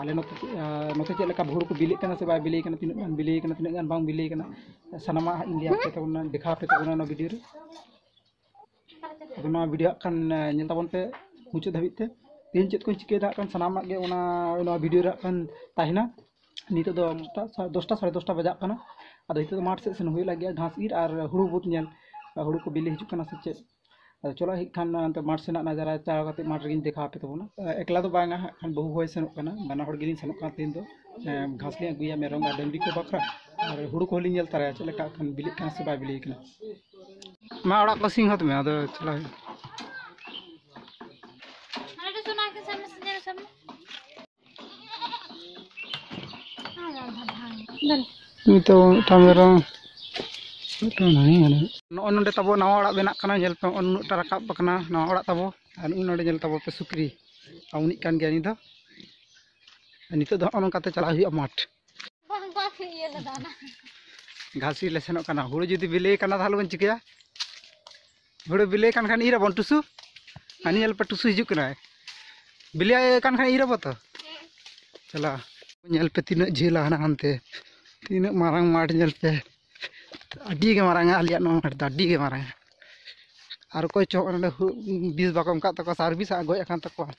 ᱟᱞᱮ ᱱᱚᱛᱮ ᱱᱚᱛᱮ ᱪᱮᱫ ᱞᱮᱠᱟ ᱵᱷᱳᱨ ᱠᱚ ᱵᱤᱞᱤᱜ ᱠᱟᱱᱟ ᱥᱮ ᱵᱟᱭ ᱵᱤᱞᱤ ᱠᱟᱱᱟ ᱛᱤᱱᱟᱹᱜ ᱜᱟᱱ ᱵᱤᱞᱤ ᱠᱟᱱᱟ ᱛᱤᱱᱟᱹᱜ ᱜᱟᱱ ᱵᱟᱝ ᱵᱤᱞᱤ ᱠᱟᱱᱟ ᱥᱟᱱᱟᱢᱟᱜ ᱦᱟᱸᱜ ᱤᱧ ᱞᱟᱹᱭ ᱟᱯᱮ ᱛᱟᱵᱚᱱᱟ ᱫᱮᱠᱷᱟᱣ ᱟᱯᱮ ᱛᱟᱵᱚᱱᱟ ᱱᱚᱣᱟ ᱵᱷᱤᱰᱤᱭᱳ ᱨᱮ ᱟᱫᱚ ᱱᱚᱣᱟ ᱵᱷᱤᱰᱤᱭᱳ ᱦᱟᱸᱜ ᱠᱷᱟᱱ ᱧᱮᱞ ᱛᱟᱵᱚᱱ ᱯᱮ ᱢᱩᱪᱟᱹᱫ ᱫᱷᱟᱹᱵᱤᱡ ᱛᱮ ᱛᱮᱦᱮᱧ ᱪᱮᱫ ᱠᱚᱧ ᱪᱤᱠᱟᱹᱭᱮᱫᱟ ᱦᱟᱸᱜ ᱠᱷᱟᱱ ᱥᱟᱱᱟᱢᱟᱜ ᱜᱮ ᱚᱱᱟ ᱱᱚᱣᱟ ᱵᱷᱤᱰᱤᱭᱳ ᱨᱮ ᱦᱟᱸᱜ ᱠᱷᱟᱱ ᱛᱟᱦᱮᱱᱟ ᱱᱤᱛᱚᱜ ᱫᱚ ᱫᱚᱥᱴᱟ ᱥᱟᱲᱮ ᱫᱚᱥᱴᱟ ᱵᱟᱡᱟᱜ ᱠᱟᱱᱟ ᱟᱫᱚ ᱱᱤᱛᱚᱜ ᱫᱚ ᱢᱟᱴᱷ ᱥᱮᱫ ᱥᱮᱱ ᱦᱩᱭᱩᱜ ᱞᱟᱹᱜᱤᱫ ᱜᱷᱟᱥ ᱤᱨ ᱟᱨ ᱦᱩᱲᱩ ᱵᱩᱫ ᱧᱮᱞ ᱦᱩᱲᱩ ᱠᱚ ᱵᱤᱞᱤ ᱦᱤᱡᱩᱜ ᱠᱟᱱᱟ ᱥᱮ ᱪᱮᱫ ᱟᱫᱚ ᱪᱚᱞᱚ ᱦᱮᱡ ᱠᱷᱟᱱ ᱚᱱᱛᱮ ᱢᱟᱴᱷ ᱥᱮᱱᱟᱜ ᱱᱟᱡᱟᱨᱟ ᱪᱟᱞᱟᱣ ᱠᱟᱛᱮ ᱢᱟᱴᱷ ᱨᱮᱜᱮᱧ ᱫᱮᱠᱷᱟᱣ ᱟᱯᱮ ᱛᱟᱵᱚᱱᱟ ᱮᱠᱞᱟ ᱫᱚ ᱵᱟᱝᱟ ᱦᱟᱸᱜ ᱠᱷᱟᱱ ᱵᱟᱹᱦᱩ ᱦᱚᱸᱭ ᱥᱮᱱᱚᱜ ᱠᱟᱱᱟ ᱵᱟᱱᱟ ᱦᱚᱲ ᱜᱮᱞᱤᱧ ᱥᱮᱱᱚᱜ ᱠᱟᱱᱟ ᱛᱮᱦᱮᱧ ᱫᱚ ᱜᱷᱟᱥ ᱞᱤᱧ ᱟᱹᱜᱩᱭᱟ ᱢᱮᱨᱚᱢ ᱟᱨ ᱰᱟᱹᱝᱨᱤ ᱠᱚ ᱵᱟᱠᱷᱨᱟ ᱟᱨ ᱦᱩᱲᱩ ᱠᱚᱦᱚᱸ ᱞᱤᱧ ᱧᱮᱞ ᱛᱟᱨᱟᱭᱟ ᱪᱮᱫ ᱞᱮᱠᱟ ᱦᱟᱸᱜ ᱠᱷᱟᱱ ᱵᱤᱞᱤᱜ ᱠᱟᱱᱟ ᱥᱮ ᱵᱟᱭ ᱵᱤᱞᱤ ᱠᱟᱱᱟ ᱢᱟ ᱚᱲᱟᱜ ᱠᱚ ᱥᱤᱝ ᱦᱟᱛ ᱢᱮ ᱟᱫᱚ ᱪᱟᱞᱟᱣ ᱦᱩᱭᱩᱜᱼᱟ ᱱᱤᱛᱚᱜ ᱢᱤᱫᱴᱟᱝ ᱢᱮᱨᱚᱢ ᱢᱤᱫᱴᱟᱝ ᱱᱟᱹᱭ ᱢᱮᱱᱟᱜᱼᱟ ᱱᱚᱜᱼᱚᱭ ᱱᱚᱰᱮ ᱛᱟᱵᱚ ᱱᱟᱣᱟ ᱚᱲᱟᱜ ᱵᱮᱱᱟᱜ ᱠᱟᱱᱟ ᱧᱮᱞ ᱯᱮ ᱩᱱᱟᱹᱜᱴᱟ ᱨᱟᱠᱟᱵ ᱟᱠᱟᱱᱟ ᱱᱟᱣᱟ ᱚᱲᱟᱜ ᱛᱟᱵᱚ ᱟᱨ ᱩᱱ ᱱᱚᱰᱮ ᱧᱮᱞ ᱛᱟᱵᱚ ᱯᱮ ᱥᱩᱠᱨᱤ ᱟᱨ ᱩᱱᱤᱜ ᱠᱟᱱ ᱜᱮᱭᱟ ᱩᱱᱤ ᱫᱚ ᱱᱤᱛᱚᱜ ᱫᱚ ᱱᱚᱜᱼᱚ ᱱᱚᱝᱠᱟᱛᱮ ᱪᱟᱞᱟᱜ ᱦᱩᱭᱩᱜᱼᱟ ᱢᱟᱴᱷ ᱜᱷᱟᱥᱤ ᱞᱮ ᱥᱮᱱᱚᱜ ᱠᱟᱱᱟ ᱦᱩᱲᱩ ᱡᱩᱫᱤ ᱵᱤᱞᱤ ᱠᱟᱱᱟ ᱛᱟᱦᱚᱞᱮ ᱵᱚᱱ ᱪᱤᱠᱟᱹᱭᱟ ᱦᱩᱲᱩ ᱵᱤᱞᱤ ᱠᱟᱱ ᱠᱷᱟᱱ ᱤᱨ ᱟᱵᱚᱱ ᱴᱩᱥᱩ ᱟᱹᱱᱤ ᱧᱮᱞ ᱯᱮ ᱴᱩᱥᱩ ᱦᱤᱡᱩᱜ ᱠᱟᱱᱟᱭ ᱵᱤᱞᱤ ᱠᱟᱱ ᱠᱷᱟᱱ ᱤᱨ ᱟᱵᱚ ᱛᱚ ᱪᱟᱞᱟᱜ ᱧᱮᱞ ᱯᱮ ᱛᱤᱱᱟᱹᱜ ᱡᱷᱟᱹᱞᱟ ᱦᱟᱱᱟ ᱦᱟᱱᱛᱮ ᱛᱤᱱᱟᱹᱜ ᱢᱟᱨᱟᱝ ᱢᱟᱴᱷ ᱧᱮᱞ ᱯᱮ ᱟᱹᱰᱤ ᱜᱮ ᱢᱟᱨᱟᱝᱟ ᱟᱞᱮᱭᱟᱜ ᱱᱚᱣᱟ ᱢᱟᱴᱷ ᱫᱚ ᱟᱹᱰᱤ ᱜᱮ ᱢᱟᱨᱟᱝᱟ ᱟᱨ ᱚᱠᱚᱭ ᱪᱚ ᱱᱚᱰᱮ ᱵᱤᱥ ᱵᱟᱠᱚ ᱮᱢ ᱠᱟᱜ ᱛᱟᱠᱚᱣᱟ ᱥᱟᱨᱵᱷᱤᱥ ᱟᱜ ᱜᱚᱡ ᱟᱠᱟᱱ ᱛᱟᱠᱚᱣᱟ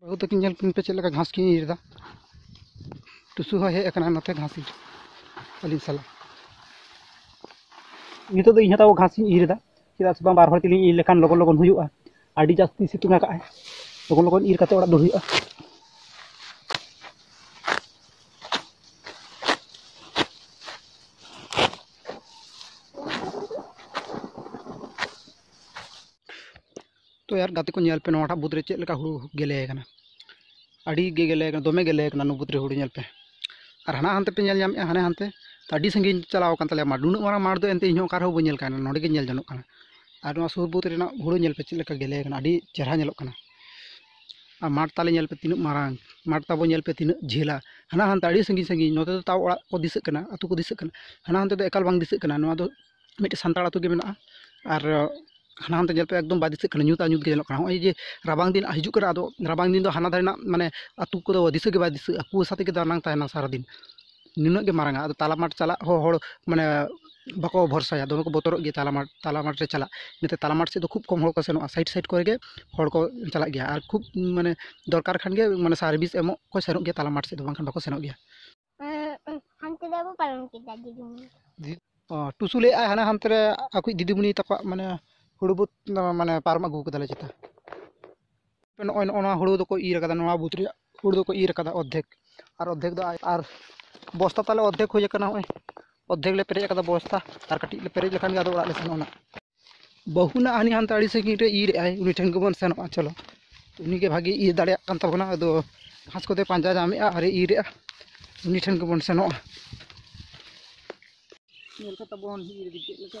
ᱵᱟᱹᱦᱩ ᱛᱟᱹᱠᱤᱱ ᱧᱮᱞ ᱠᱤᱱ ᱯᱮ ᱪᱮᱫ ᱞᱮᱠᱟ ᱜᱷᱟᱥ ᱠᱤᱱ ᱤᱨᱻ ᱫᱟ ᱴᱩᱥᱩ ᱦᱚᱸᱭ ᱦᱮᱡ ᱟᱠᱟᱱᱟ ᱱᱚᱛᱮ ᱜᱷᱟᱥ ᱤᱨ ᱟᱹᱞᱤᱧ ᱥᱟᱞᱟᱜ ᱱᱤᱛᱚᱜ ᱫᱚ ᱤᱧ ᱦᱚᱸ ᱛᱟᱵᱚ ᱜᱷᱟᱥ ᱤᱧ ᱤᱨ ᱮᱫᱟ ᱪᱮᱫᱟᱜ ᱥᱮ ᱵᱟᱝ ᱵᱟᱨ ᱦᱚᱲ ᱛᱮᱞᱤᱧ ᱤᱨ ᱞᱮᱠᱷᱟᱱ ᱞᱚᱜᱚᱱ ᱞᱚᱜᱚᱱ ᱦᱩᱭᱩᱜᱼᱟ ᱟᱹᱰᱤ ᱡᱟᱹᱥᱛᱤ ᱥᱤᱛᱩᱝ ᱟᱠᱟᱫ ᱟᱭ ᱞᱚᱜᱚᱱ ᱞᱚᱜᱚᱱ ᱤᱨ ᱠᱟᱛᱮ ᱚᱲᱟᱜ ᱫᱚ ᱦᱩᱭᱩᱜᱼᱟ ᱛᱚ ᱭᱟᱨ ᱜᱟᱛᱮ ᱠᱚ ᱧᱮᱞ ᱯᱮ ᱱᱚᱣᱟᱴᱟᱜ ᱵᱩᱫᱽ ᱨᱮ ᱪᱮᱫ ᱞᱮᱠᱟ ᱦᱩᱲᱩ ᱜᱮᱞᱮ ᱟᱠᱟᱱᱟ ᱟᱹᱰᱤ ᱜᱮ ᱜᱮᱞᱮ ᱟᱠᱟᱱᱟ ᱫᱚᱢᱮ ᱜᱮᱞᱮ ᱟᱠᱟᱱᱟ ᱱᱚᱣᱟ ᱵᱩᱫᱽ ᱨᱮ ᱦᱩᱲᱩ ᱧᱮᱞ ᱯᱮ ᱟᱨ ᱦᱟᱱᱟ ᱦᱟᱱᱛᱮ ᱯᱮ ᱧᱮᱞ ᱧᱟᱢᱮᱜᱼᱟ ᱦᱟᱱᱮ ᱦᱟᱱᱛᱮ ᱟᱹᱰᱤ ᱥᱟᱺᱜᱤᱧ ᱪᱟᱞᱟᱣ ᱟᱠᱟᱱ ᱛᱟᱞᱮᱭᱟ ᱢᱟᱴᱷ ᱱᱩᱱᱟᱹᱜ ᱢᱟᱨᱟᱝ ᱢᱟᱴᱷ ᱫᱚ ᱮᱱᱛᱮ ᱤᱧ ᱦᱚᱸ ᱚᱠᱟ ᱨᱮᱦᱚᱸ ᱵᱟᱹᱧ ᱧᱮᱞ ᱠᱟᱜᱼᱟ ᱱᱚᱰᱮ ᱜᱮ ᱧᱮᱞ ᱡᱚᱱᱚᱜ ᱠᱟᱱᱟ ᱟᱨ ᱱᱚᱣᱟ ᱥᱩᱨ ᱵᱩᱫᱽ ᱨᱮᱱᱟᱜ ᱦᱩᱲᱩ ᱧᱮᱞ ᱯᱮ ᱪᱮᱫ ᱞᱮᱠᱟ ᱜᱮᱞᱮ ᱟᱠᱟᱱᱟ ᱟᱹᱰᱤ ᱪᱮᱦᱨᱟ ᱧᱮᱞᱚᱜ ᱠᱟᱱᱟ ᱟᱨ ᱢᱟᱴᱷ ᱛᱟᱞᱮ ᱧᱮᱞ ᱯᱮ ᱛᱤᱱᱟᱹᱜ ᱢᱟᱨᱟᱝ ᱢᱟᱴᱷ ᱛᱟᱵᱚ ᱧᱮᱞ ᱯᱮ ᱛᱤᱱᱟᱹᱜ ᱡᱷᱟᱹᱞᱟ ᱦᱟᱱᱟ ᱦᱟᱱᱛᱮ ᱟᱹᱰᱤ ᱥᱟᱺᱜᱤᱧ ᱥᱟᱺᱜᱤᱧ ᱱᱚᱛᱮ ᱫᱚ ᱛᱟᱣ ᱚᱲᱟᱜ ᱠᱚ ᱫᱤᱥᱟᱹᱜ ᱠᱟᱱᱟ ᱟᱛᱳ ᱠᱚ ᱫᱤᱥᱟᱹᱜ ᱠᱟᱱᱟ ᱦᱟᱱᱟ ᱦᱟᱱᱛᱮ ᱫᱚ ᱮᱠᱟᱞ ᱵᱟᱝ ᱫᱤᱥᱟᱹᱜ ᱠᱟᱱᱟ ᱱᱚᱣᱟ ᱫᱚ ᱢᱤᱫᱴᱮᱱ ᱥᱟᱱᱛᱟᱲ ᱟᱹᱛᱩ ᱜᱮ ᱢᱮᱱᱟᱜᱼᱟ ᱟᱨ ᱦᱟᱱᱟ ᱦᱟᱱᱛᱮ ᱧᱮᱞ ᱯᱮ ᱮᱠᱫᱚᱢ ᱵᱟᱭ ᱫᱤᱥᱟᱹᱜ ᱠᱟᱱᱟ ᱧᱩᱛ ᱟᱨ ᱧᱩᱛ ᱜᱮ ᱧᱮᱞᱚᱜ ᱠᱟᱱᱟ ᱱᱚᱜᱼᱚᱭ ᱡᱮ ᱨᱟᱵᱟᱝ ᱫᱤᱱ ᱦᱤᱡᱩᱜ ᱠᱟᱱᱟ ᱟᱫᱚ ᱨᱟᱵᱟᱝ ᱫᱤᱱ ᱫᱚ ᱦᱟᱱᱟ ᱫᱷᱟᱨᱮ ᱨᱮᱱᱟᱜ ᱢᱟᱱᱮ ᱟᱹᱛᱩ ᱠᱚᱫᱚ ᱫᱤᱥᱟᱹ ᱜᱮ ᱵᱟᱭ ᱫᱤᱥᱟᱹᱜᱼᱟ ᱠᱩᱣᱟᱹᱥᱟ ᱛᱮᱜᱮ ᱫᱟᱱᱟᱝ ᱛᱟᱦᱮᱱᱟ ᱥᱟᱨᱟᱫᱤᱱ ᱱᱩᱱᱟᱹᱜ ᱜᱮ ᱢᱟᱨᱟᱝᱼᱟ ᱟᱫᱚ ᱛᱟᱞᱟ ᱢᱟᱴᱷ ᱪᱟᱞᱟᱜ ᱦᱚᱸ ᱦᱚᱲ ᱢᱟᱱᱮ ᱵᱟᱠᱚ ᱵᱷᱚᱨᱥᱟᱭᱟ ᱫᱚᱢᱮ ᱠᱚ ᱵᱚᱛᱚᱨᱚᱜ ᱜᱮᱭᱟ ᱛᱟᱞᱟ ᱢᱟᱴᱷ ᱛᱟᱞᱟ ᱢᱟᱴᱷ ᱨᱮ ᱪᱟᱞᱟᱜ ᱤᱱᱟᱹᱛᱮ ᱛᱟᱞᱟ ᱢᱟᱴᱷ ᱥᱮᱫ ᱫᱚ ᱠᱷᱩᱵᱽ ᱠᱚᱢ ᱦᱚᱲ ᱠᱚ ᱥᱮᱱᱚᱜᱼᱟ ᱥᱟᱭᱤᱰ ᱥᱟᱭᱤᱰ ᱠᱚᱨᱮ ᱜᱮ ᱦᱚᱲ ᱠᱚ ᱪᱟᱞᱟᱜ ᱜᱮᱭᱟ ᱟᱨ ᱠᱷᱩᱵᱽ ᱢᱟᱱᱮ ᱫᱚᱨᱠᱟᱨ ᱠᱷᱟᱱ ᱜᱮ ᱢᱟᱱᱮ ᱥᱟᱨᱵᱷᱤᱥ ᱮᱢᱚᱜ ᱠᱚ ᱥᱮᱱᱚᱜ ᱜᱮᱭᱟ ᱛᱟᱞᱟ ᱢᱟᱴᱷ ᱥᱮᱫ ᱫᱚ ᱵᱟᱝᱠᱷᱟᱱ ᱵᱟᱠᱚ ᱥᱮᱱᱚᱜ ᱜᱮᱭᱟ ᱦᱟᱱᱛᱮ ᱨᱮ ᱵᱟᱵᱚ ᱯᱟᱨᱚᱢ ᱠᱮᱫᱟ ᱫᱤᱫᱤᱢᱩᱱᱤ ᱴᱩᱥᱩ ᱞᱟᱹᱭᱮᱫ ᱟᱭ ᱦᱟᱱᱮ ᱦᱟᱱᱛᱮ ᱨᱮ ᱟᱠᱚᱭᱤᱡ ᱫᱤᱫᱤᱢᱩᱱᱤ ᱛᱟᱠᱚᱣᱟᱜ ᱢᱟᱱᱮ ᱦᱩᱲᱩ ᱵᱩᱛ ᱢᱟᱱᱮ ᱯᱟᱨᱚᱢ ᱟᱹᱜᱩ ᱠᱟᱫᱟᱞᱮ ᱪᱮᱛᱟ ᱱᱚᱜᱼᱚᱭ ᱱᱚᱜᱼᱚ ᱱᱚᱣᱟ ᱦᱩᱲᱩ ᱫᱚᱠᱚ ᱤᱨ ᱟᱠᱟᱫᱟ ᱱᱚᱣᱟ ᱵᱩᱛ ᱨᱮᱭᱟᱜ ᱦᱩᱲᱩ ᱫᱚᱠᱚ ᱤᱨ ᱟᱠᱟᱫᱟ ᱚᱨᱫᱷᱮᱠ ᱟᱨ ᱚᱨᱫᱷᱮᱠ ᱫᱚ ᱟᱨ ᱵᱚᱥᱛᱟ ᱛᱟᱞᱮ ᱚᱨᱫᱷᱮᱠ ᱦᱩᱭ ᱟᱠᱟᱱᱟ ᱱᱚᱜᱼᱚᱭ ᱚᱨᱫᱷᱮᱠ ᱞᱮ ᱯᱮᱨᱮᱡ ᱟᱠᱟᱫᱟ ᱵᱚᱥᱛᱟ ᱟᱨ ᱠᱟᱹᱴᱤᱡ ᱞᱮ ᱯᱮᱨᱮᱡ ᱞᱮᱠᱷᱟᱱ ᱜᱮ ᱟᱫᱚ ᱚᱲᱟᱜ ᱞᱮ ᱥᱮᱱᱚᱜᱼᱟ ᱱᱟᱜ ᱵᱟᱹᱦᱩ ᱱᱟᱜ ᱦᱟᱹᱱᱤ ᱦᱟᱱᱛᱮ ᱟᱹᱰᱤ ᱥᱟᱺᱜᱤᱧ ᱨᱮ ᱤᱨ ᱮᱫᱟᱭ ᱩᱱᱤ ᱴᱷᱮᱱ ᱜᱮᱵᱚᱱ ᱥᱮᱱᱚᱜᱼᱟ ᱪᱚᱞᱚ ᱩᱱᱤ ᱜᱮ ᱵᱷᱟᱹᱜᱤ ᱤᱨ ᱫᱟᱲᱮᱭᱟᱜ ᱠᱟᱱ ᱛᱟᱵᱚᱱᱟ ᱟᱫᱚ ᱜᱷᱟᱥ ᱠᱚᱫᱚᱭ ᱯᱟᱸᱡᱟ ᱧᱟᱢᱮᱫᱼᱟ ᱟᱨᱮ ᱤᱨ ᱮᱫᱼᱟ ᱩᱱᱤ ᱴᱷᱮᱱ ᱜᱮᱵᱚᱱ ᱥᱮᱱᱚᱜᱼᱟ ᱧᱮᱞ ᱠᱟᱛᱮ ᱵᱚᱱ ᱤᱨ ᱤᱫᱤ ᱪᱮᱫ ᱞᱮᱠᱟ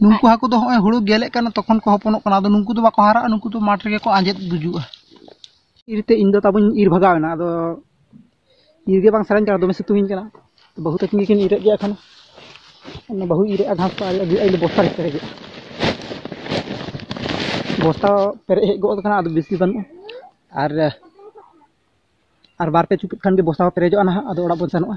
ᱱᱩᱠᱩ ᱦᱟᱹᱠᱩ ᱫᱚ ᱦᱚᱸᱜᱼᱚᱭ ᱦᱩᱲᱩ ᱜᱮᱞᱮᱜ ᱠᱟᱱᱟ ᱛᱚᱠᱷᱚᱱ ᱠᱚ ᱦᱚᱯᱚᱱᱚᱜ ᱠᱟᱱᱟ ᱟᱫᱚ ᱱᱩᱠᱩ ᱫᱚ ᱵᱟᱠᱚ ᱦᱟᱨᱟᱜᱼᱟ ᱱᱩᱠᱩ ᱫᱚ ᱢᱟᱴᱷ ᱨᱮᱜᱮ ᱠᱚ ᱟᱸᱡᱮᱫ ᱜᱩᱡᱩᱜᱼᱟ ᱤᱨᱛᱮ ᱤᱧ ᱫᱚ ᱛᱟᱵᱚᱧ ᱤᱨ ᱵᱷᱟᱜᱟᱣ ᱮᱱᱟ ᱟᱫᱚ ᱤᱨ ᱜᱮ ᱵᱟᱝ ᱥᱟᱱᱟᱧ ᱠᱟᱱᱟ ᱫᱚᱢᱮ ᱥᱤᱛᱩᱝ ᱤᱧ ᱠᱟᱱᱟ ᱵᱟᱹᱦᱩ ᱛᱟᱹᱠᱤᱱ ᱜᱮᱠᱤᱱ ᱤᱨᱮᱫ ᱜᱮᱭᱟ ᱮᱠᱷᱚᱱ ᱚᱱᱟ ᱵᱟᱹᱦᱩ ᱤᱨᱮᱫᱼᱟ ᱜᱷᱟᱥ ᱠᱚ ᱟᱨ ᱟᱹᱜᱩᱭᱮᱫᱼᱟ ᱤᱧ ᱫᱚ ᱵᱚᱥᱛᱟ ᱨᱮ ᱯᱮᱨᱮᱡᱮᱫᱼᱟ ᱵᱚᱥᱛᱟ ᱯᱮᱨᱮᱡ ᱦᱮᱡ ᱜᱚᱫ ᱟᱠᱟᱱᱟ ᱟᱫᱚ ᱵᱮᱥᱤ ᱵᱟᱹᱱᱩᱜᱼᱟ ᱟᱨ ᱟᱨ ᱵᱟᱨ ᱯᱮ ᱪᱩᱯᱩᱫ ᱠᱷᱟᱱ ᱜᱮ ᱵᱚᱥᱛᱟ ᱦᱚᱸ ᱯᱮᱨᱮᱡᱚᱜᱼᱟ ᱱᱟᱦᱟᱜ ᱟᱫᱚ ᱚᱲᱟᱜ ᱵᱚᱱ ᱥᱮᱱᱚᱜᱼᱟ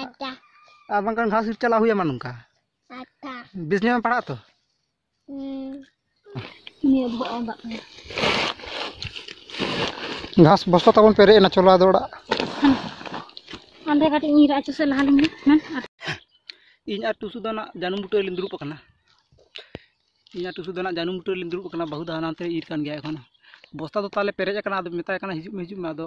ᱟᱪᱪᱷᱟ ᱟᱨ ᱵᱟᱝᱠᱷᱟᱱ ᱜᱷᱟᱥ ᱤᱨ ᱪᱟᱞᱟᱜ ᱦᱩᱭᱟᱢᱟ ᱱᱚᱝᱠᱟ ᱟᱪᱪᱷᱟ ᱵᱮᱥ ᱧᱚᱜ ᱮᱢ ᱯᱟᱲᱦᱟᱜ ᱛᱚ ᱱᱤᱭᱟᱹ ᱫᱚ ᱵᱟᱝ ᱫᱟᱜ ᱠᱟᱱᱟ ᱜᱷᱟᱥ ᱵᱚᱥᱛᱟ ᱛᱟᱵᱚᱱ ᱯᱮᱨᱮᱡ ᱮᱱᱟ ᱪᱚᱞᱚ ᱟᱫᱚ ᱚᱲᱟᱜ ᱚᱸᱰᱮ ᱠᱟᱹᱴᱤᱡ ᱧᱤᱨ ᱟᱪᱚ ᱥᱮ ᱞᱟᱦᱟ ᱞᱤᱧ ᱢᱮ ᱤᱧ ᱟᱨ ᱴᱩᱥᱩ ᱫᱚ ᱱᱟᱜ ᱡᱟᱹᱱᱩᱢ ᱵᱩᱴᱟᱹ ᱨᱮᱞᱤᱧ ᱫᱩᱲᱩᱵ ᱟᱠᱟᱱᱟ ᱤᱧ ᱟᱨ ᱴᱩᱥᱩ ᱫᱚ ᱱᱟᱜ ᱡᱟᱹᱱᱩᱢ ᱵᱩᱴᱟᱹ ᱨᱮᱞᱤᱧ ᱫᱩᱲᱩᱵ ᱟᱠᱟᱱᱟ ᱵᱟᱹᱦᱩ ᱫᱚ ᱦᱟᱱᱟᱱᱛᱮ ᱤᱨ ᱠᱟᱱ ᱜᱮᱭᱟ ᱮᱠᱷᱚᱱ ᱵᱚᱥᱛᱟ ᱫᱚ ᱛᱟᱦᱚᱞᱮ ᱯᱮᱨᱮᱡ ᱟᱠᱟᱱᱟ ᱟᱫᱚ ᱢᱮᱛᱟᱭ ᱠᱟᱱᱟ ᱦᱤᱡᱩᱜ ᱢᱮ ᱦᱤᱡᱩᱜ ᱢᱮ ᱟᱫᱚ